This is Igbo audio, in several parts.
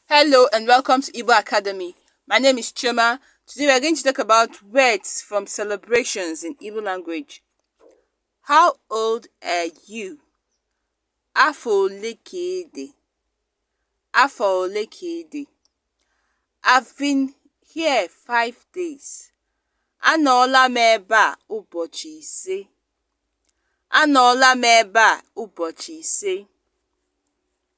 Hello and welcome to Igbo Academy. My name is Chioma. Today we are going to talk about words from celebrations in Igbo language. How old are you? Afọ ole ka ị dị? Afọ ole ka ị dị? I've been here five days. Anọọla m ebe a ụbọchị ise. Anọọla m ebe a ụbọchị ise.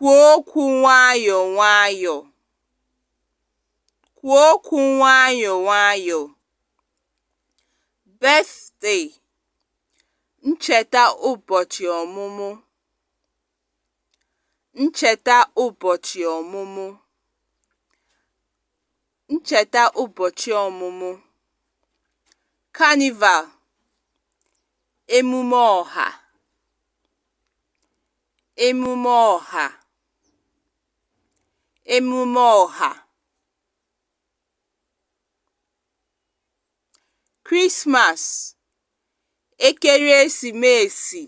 Kwuo okwu nwayọọ nwayọọ. Kwuo okwu nwayọọ nwayọọ. Birthday, ncheta ụbọchị ọmụmụ. Ncheta ụbọchị ọmụmụ. Ncheta ụbọchị ọmụmụ. Carnival, emume ọha. emume ọha emume ọha Christmas ekeresimesi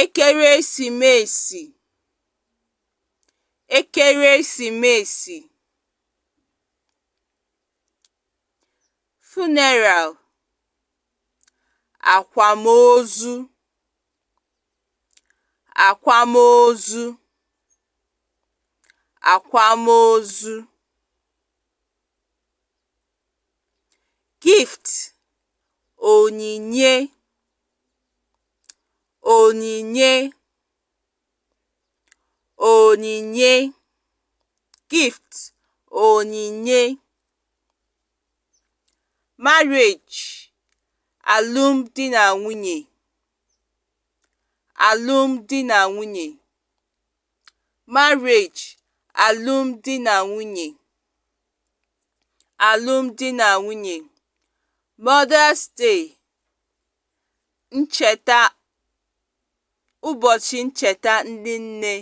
ekeresimesi ekeresimesi funeral akwamozu akwamozu akwamozu gift onyinye onyinye onyinye gift onyinye marriage alụm di na nwunye alụm di na nwunye marriage alụm di na nwunye alụm di na nwunye mother's day ncheta ụbọchị ncheta ndị nne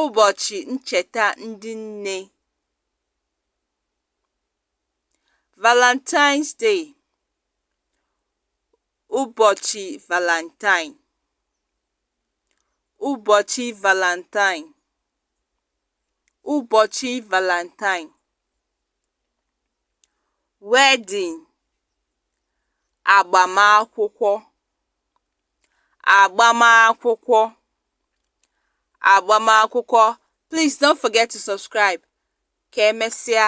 ụbọchị ncheta ndị nne Valentine's Day ụbọchị Valentine ụbọchị Valentine ụbọchị Valentine wedding agbamakwụkwọ agbamakwụkwọ agbamakwụkwọ please don't forget to subscribe ka emesịa